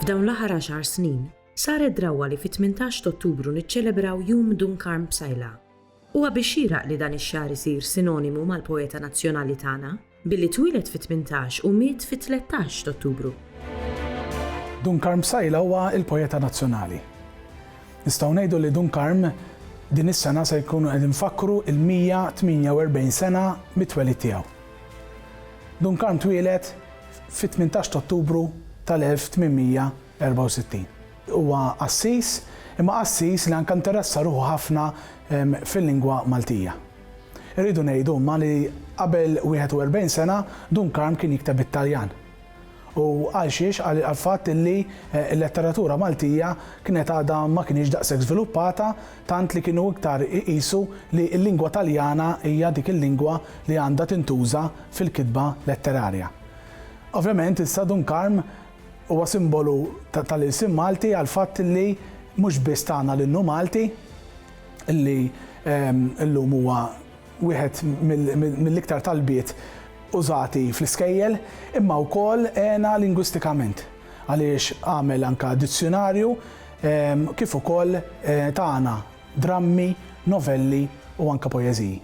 F'dawn l-aħħar għaxar snin, saret drawwa li fit-18 t'Ottubru niċċelebraw Jum Dun Karm Psaila. Huwa biss xieraq li dan ix-xahar isir sinonimu mal-poeta nazzjonali tagħna, billi twieled fit-tmintax u miet fit-tlettax t'Ottubru. Dun Karm Psaila huwa l-poeta nazzjonali. Nistgħu ngħidu li Dun Karm din is-sena se jkunu qed infakkru l-148 sena mit-twelid tiegħu. Dun Karm twieled fit-tmintax t'Ottubru tal-1800. 64. Huwa qassis, imma qassis li anke nteressa ruħu ħafna fil-lingwa Maltija. Irridu ngħidu imma li qabel 41 sena Dun Karm kien jikteb bit-Taljan. U għal xiex? Għall-fatt li l-letteratura Maltija kienet għadha ma kinitx daqshekk żviluppata tant li kienu iktar iqisu li l-lingwa Taljana hija dik il-lingwa li għandha tintuża fil-kitba letterarja. Ovvjament issa Dun Karm Huwa simbolu tal-ilsien Malti għall-fatt li mhux biss tana l-innu Malti, li llum huwa wieħed mill-iktar talbiet użati fl-iskejjel, imma wkoll għena lingwistikament għaliex għamel anke dizzjunarju kif ukoll tana drammi, novelli u anke poeżiji.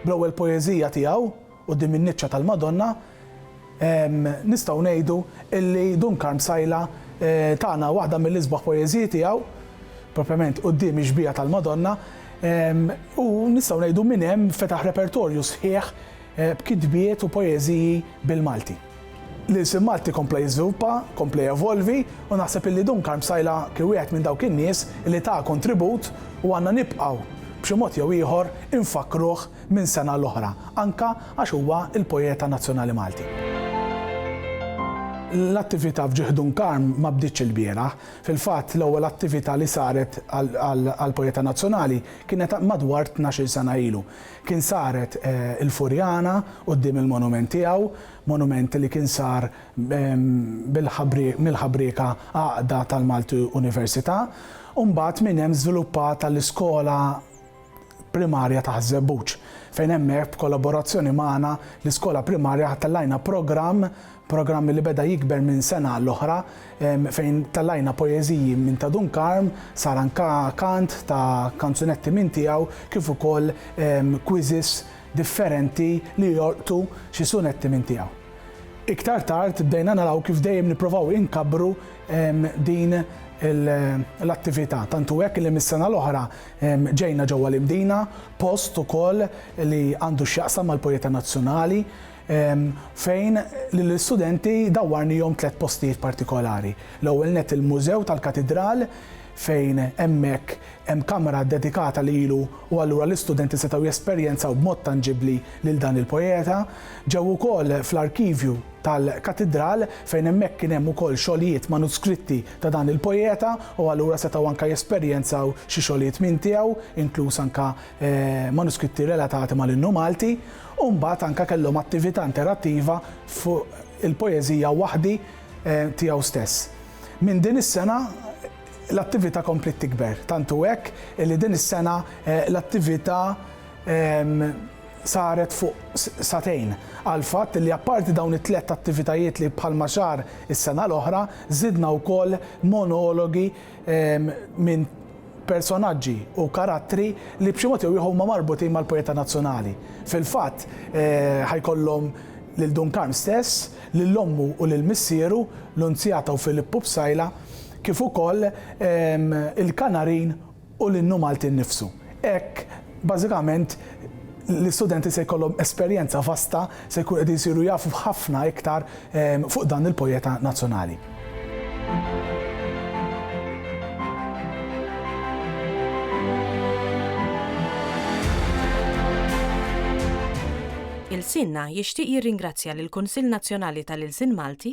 Bl-ewwel poeżija tiegħu, Quddiem in-niċċa tal-Madonna nistgħu ngħidu illi Dun Karm Sajla tana waħda mill-isbaħ poeżiji tiegħu, propjament quddiem ix-xbieha tal-Madonna, u nistgħu ngħidu minn hemm fetaħ repertorju sħiħ b'kitbiet u poeżiji bil-Malti. L-ilsien Malti kompla jiżviluppa, kompla jevolvi u naħseb illi Dun Karm Sajla kien wieħed minn dawk in-nies illi ta kontribut u għandna nibqgħu b'xi mod jew ieħor infakkruh minn sena l-oħra, anke għax huwa l-poeta nazzjonali Malti. L-attività f'Ġieħ Dun Karm ma bdietx ilbieraħ. Fil-fatt, l-ewwel attività li saret għall-poeta nazzjonali kienet madwar tnax-il sena ilu. Kien saret il-Furjana quddiem il-monument tiegħu, monument li kien sar mill-ħabrieka Għaqda tal-Malti Università, u mbagħad minn hemm żviluppat għall-iskola, Primarja Taħt Żebbuġ, fejn hemmhekk b'kollaborazzjoni magħna l-iskola primarja tellajna programm, programm li beda jikber minn sena għall-oħra, fejn tellajna poeżiji minn ta' Dun Karm, sar anke kant ta' kanzunetti minn tiegħu kif ukoll quizzes differenti li jolqtu xi sunetti minn tiegħu. Iktar tard bdejna naraw kif dejjem nipprovaw inkabbru din l-attività, tant hu hekk li mis-sena l-oħra Ġejna ġewwa l-Imdina, post ukoll li għandu x'jaqsam mal-Pojeta Nazzjonali, fejn lill-istudenti dawwarnihom tliet postijiet partikolari. L-ewwel nett il-Mużew tal-Katidral fejn hemmhekk hemm kamra ddedikata lilu u allura l-istudenti setgħu jesperjenzaw b'mod tanġibbli lil dan il-Pojeta. Ġew ukoll fl-Arkivju. tal-Katidral, fejn hemmhekk kien hemm ukoll xogħlijiet manuskritti ta' dan il-poeta u allura setgħu anke jesperjenzaw xi xogħlijiet minn tiegħu, inkluż anke manuskritti relatati mal-Innu Malti. U mbagħad anke kellhom attività interattiva fuq il-poeżija Waħdi tiegħu stess. Minn din is-sena l-attività kompliet tikber, tant hu hekk li din is-sena l-attività saret fuq sagħtejn, għall-fatt li apparti dawn it-tlett attivitajiet li bħalma sar is-sena l-oħra, żidna wkoll monologi minn personaġġi u karattri li b'xi mod jew ieħor huma marbutin mal-poeta nazzjonali. Fil-fatt, ħa jkollhom lil Dun Karm stess, lil ommu u lil missieru, Lunzjata u Filippu Psaila, kif ukoll il-Kanarin u l-innu Malti nnifsu. Hekk, bażikament, l-istudenti se jkollhom esperjenza vasta, se jkunu qegħdin isiru jafu ħafna iktar fuq dan il-poeta nazzjonali. Ilsienna jixtieq jirringrazzja lill-Kunsill Nazzjonali tal-Ilsien Malti,